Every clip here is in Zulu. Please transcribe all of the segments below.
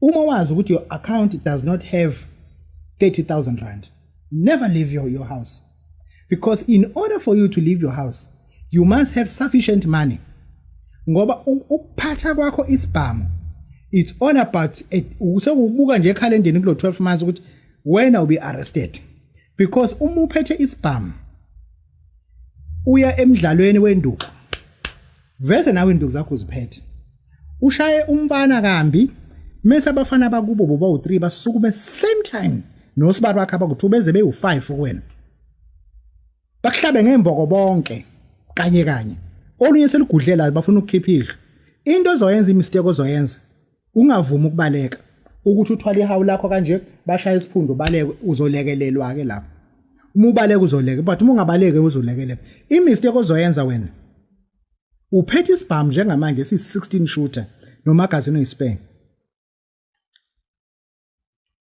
uma wazi ukuthi your account does not have 30000 rand never leave your, your house because in order for you to leave your house you must have sufficient money ngoba ukuphatha kwakho isibhamu it's all about usekubuka nje ekhalendeni kulo 12 months ukuthi wena will be arrested because uma uphethe isibhamu uya emidlalweni wenduku Vese nawe induku zakho uziphethe. Ushaye umfana kambi mese abafana bakubo boba u3 basukume same time nosibari wakhe abaku2 beze bewu5 kuwena. Bakuhlabe ngemboko bonke kanye kanye. Olunye selugudlela bafuna ukukhipha idlo. Into ozoyenza imistake ozoyenza ungavumi ukubaleka ukuthi uthwale ihawu lakho kanje bashaya isiphundu baleke uzolekelelwa ke lapho uma ubaleka uzoleke but uma ungabaleke uzolekelela imistake ozoyenza wena uphethe isibhamu njengamanje si-16 shooter nomagazini oyisipenge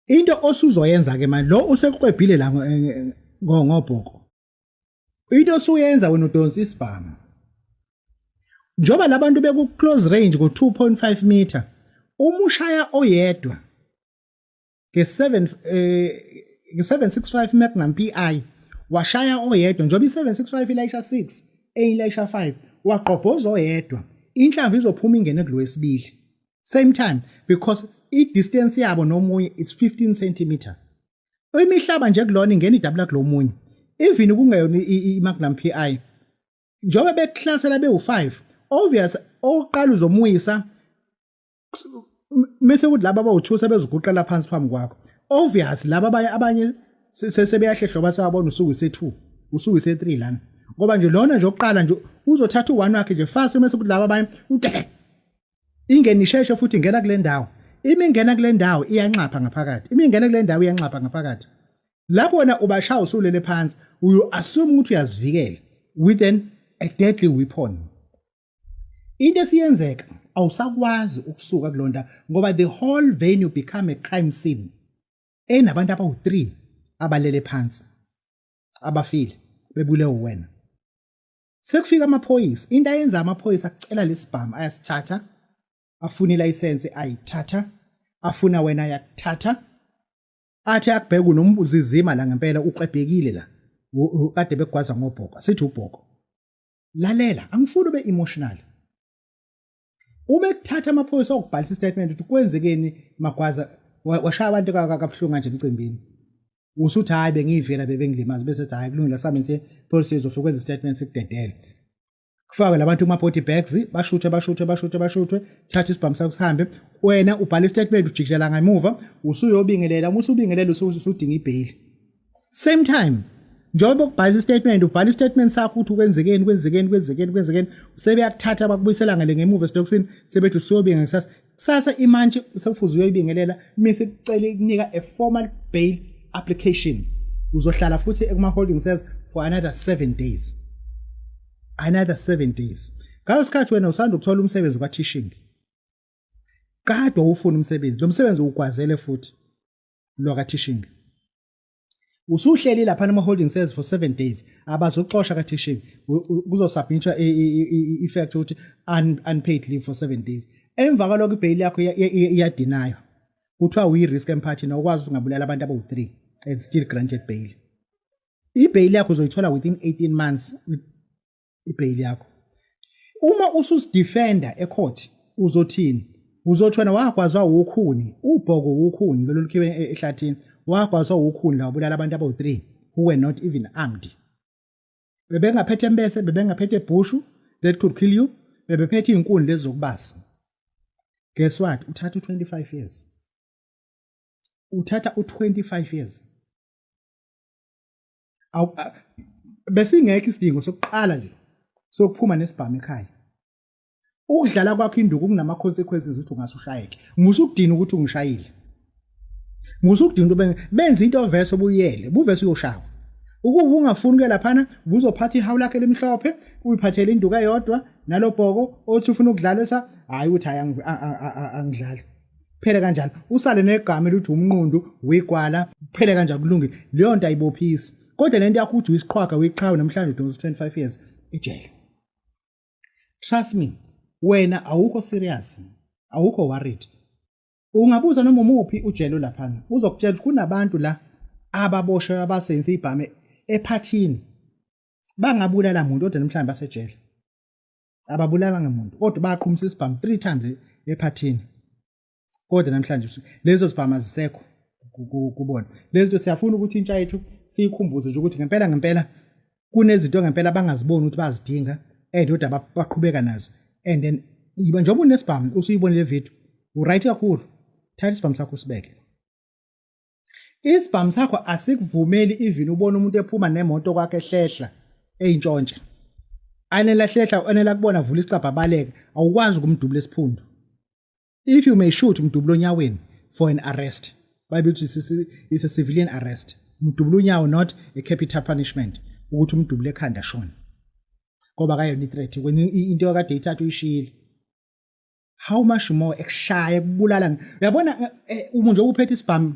into osuzoyenza ke manje lo usekwebhile la ngobhoko into osuyenza wena udonsa isibhamu njengoba labantu beku close range ku 2.5 meter uma ushaya oyedwa ke 7 eh ke 765 Magnum PI washaya oyedwa njengoba i 765 ilayisha 6 enye ilayisha 5 waqobhoza oyedwa inhlamvu izophuma ingene kulowesibili same time because i distance yabo nomunye is 15 cm imihlaba nje kulona ingena idabula kulomunye even ukungeyona iMagnum PI njengoba bekuhlasela bewu5 obvious oqala uzomuyisa mase ukuthi laba bawuthusa beziguqela phansi phambi kwakho obvious laba abanye abanye sesebeyahlehlo basawabona usuku ise2 usuku ise3 lana ngoba nje lona nje oqala nje uzothatha u1 wakhe nje fast mase ukuthi laba abanye ingeni isheshe futhi ingena kule ndawo imi ingena kule ndawo iyanxapha ngaphakathi imi ingena kule ndawo iyanxapha ngaphakathi lapho wena ubashaya usulele phansi uyu assume ukuthi uyazivikela with an a deadly weapon into esiyenzeka awusakwazi ukusuka kulonda ngoba the whole venue become a crime scene enabantu abawu3 abalele phansi abafile bebule wena Sekufika amaphoyisa. Into ayenza amaphoyisa akucela lesibhamu ayasithatha. Afuna ilayisense ayithatha. Afuna wena yakuthatha. Athi akubheka unombuzizima la ngempela uxebhekile la. Kade bekugwaza ngobhoko. Sithi ubhoko. Lalela, angifuni ube emotional. uma ekuthatha amaphoyisa okubhalisa istatement ukuthi kwenzekeni magwaza washaya abantu kabuhlungu kanje emcimbini usuthi hayi bengiyivela bebengilimazi bese hayi kulungile samenze policy izofika kwenza istatement sikudedele kufakwe labantu kuma body bags bashuthe bashuthe bashuthe bashuthe thatha isibhamu sakho sihambe wena ubhala istatement ujikijela ngemuva usuyobingelela uma usubingelela usudinga ibheyili same time njengoba ukubhala istatement ubhala istatement sakho ukuthi kwenzekeni kwenzekeni kwenzekeni kwenzekeni sebeyakuthatha bakubuyisela ngale ngemuva esitokisini sebethi usuyobinga kusasa kusasa imantshi sekufuze uyoyibingelela mise kucela ikunika a formal bail application uzohlala futhi ekuma-holding cells for another seven days another seven days ngalo sikhathi wena usanda ukuthola umsebenzi kwateaching kade wawufuna umsebenzi lo msebenzi uwugwazele futhi lwakathishingi usuhleli lapha ama holding cells for 7 days abazoxosha ka teaching kuzosubmitwa effect ukuthi unpaid leave for 7 days emva kwaloko ibail yakho iyadinaywa kuthiwa uyi risk emphathini awukwazi ungabulala abantu abawu3 and still granted bail ibail yakho uzoyithola within 18 months ibheyili yakho uma ususidefender ecourt uzothini uzothi wena wagwazwa wukhuni ubhoko wukhuni lolu lukhiwe e-, ehlathini wagwazwa wukhuni la wabulala abantu abawu-3 who were not even armed bebengaphethe embese bebengaphethe ebhushu that could kill you bebephethe iy'nkuni lezi zokubasa guess what uthatha u-25 years uthatha u-25 years besingekho isidingo sokuqala nje sokuphuma nesibhamu ekhaya ukudlala kwakho induku kunama consequences ukuthi ungase ushayeke ngisho ukudina ukuthi ungishayile ngisho ukudina ukuthi benza into ovese obuyele buvese uyoshawa ukuba ungafuni ke laphana buzophatha ihawu lakhe limhlophe uyiphathele induku eyodwa nalobhoko othi ufuna ukudlalisa hayi ukuthi hayi angidlali phele kanjalo usale negama elithi umnqundu wegwala phele kanjalo kulungile leyo nto ayibophisi kodwa lento yakho uthi uyisiqhwaga uyiqhawe namhlanje udonsa 25 years ejele trust me wena awukho serious awukho worried ungabuza noma umuphi ujele laphana uzokutshela ukuthi kunabantu la ababoshwe abasenze ibhame ephathini bangabulala muntu kodwa namhlanje basejele ababulala ngamuntu kodwa baqhumisa isibhamu three times ephathini kodwa namhlanje lezo zibhamu azisekho kubona lezi zinto siyafuna ukuthi intsha yethu siyikhumbuze nje ukuthi ngempela ngempela kunezinto ngempela abangaziboni ukuthi bazidinga and kodwa baqhubeka nazo and then yiba njengoba unesibhamu usuyibonile video uright kakhulu thatha isibhamu sakho usibeke Isibhamu sakho asikuvumeli even ubona umuntu ephuma nemoto kwakhe hlehla eyintshontsha. Anela hlehla anela kubona vula isicabha baleke awukwazi ukumdubula esiphundu. If you may shoot mdubula onyaweni for an arrest. Bayibithi is a civilian arrest. Mdubula unyawo not a capital punishment ukuthi umdubule ekhanda shona. Ngoba kayona i-threat into yakade ithatha uyishile. how much more ekushaya ekubulala uyabona eh, umuntu nje uphethe isibhamu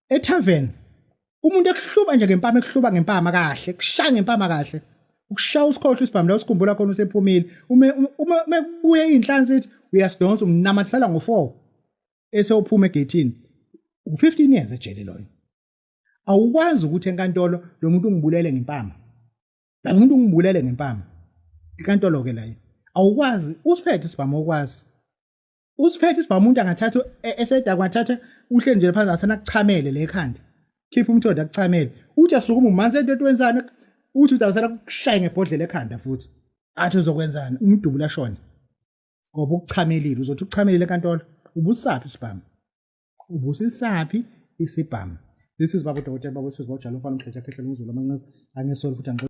etavern umuntu ekuhluba nje ngempama ekuhluba ngempama kahle kushaya ngempama kahle ukushaya usikhohle isibhamu la usikhumbula khona usephumile uma uma mekubuye inhlansi ethi uyasidonsa umnamathisela ngo4 esewuphuma egethini u15 years ejele loyo awukwazi ukuthi enkantolo lo muntu ungibulele ngempama Kanti umuntu ungibulele ngempama. Inkantolo ke layo. Awukwazi usiphethe isibhamu okwazi. Usiphethe isibhamu umuntu angathatha e- eseda kwathatha uhle nje phansi asena kuchamele le khanda. Khipha umthondo akuchamele. Uthi asukuma umanzi into etwenzana uthi udawusela kushaya ngebhodlela ekhanda futhi. Athi uzokwenzana umdubula shona. Ngoba ukuchamelile uzothi ukuchamelile enkantolo ubusaphi isibhamu. Ubusisaphi isibhamu. This is baba udokotela baba wesizwa ujalo mfana umdletsha khehlela umzulu amanqaza angesoli futhi angixoxa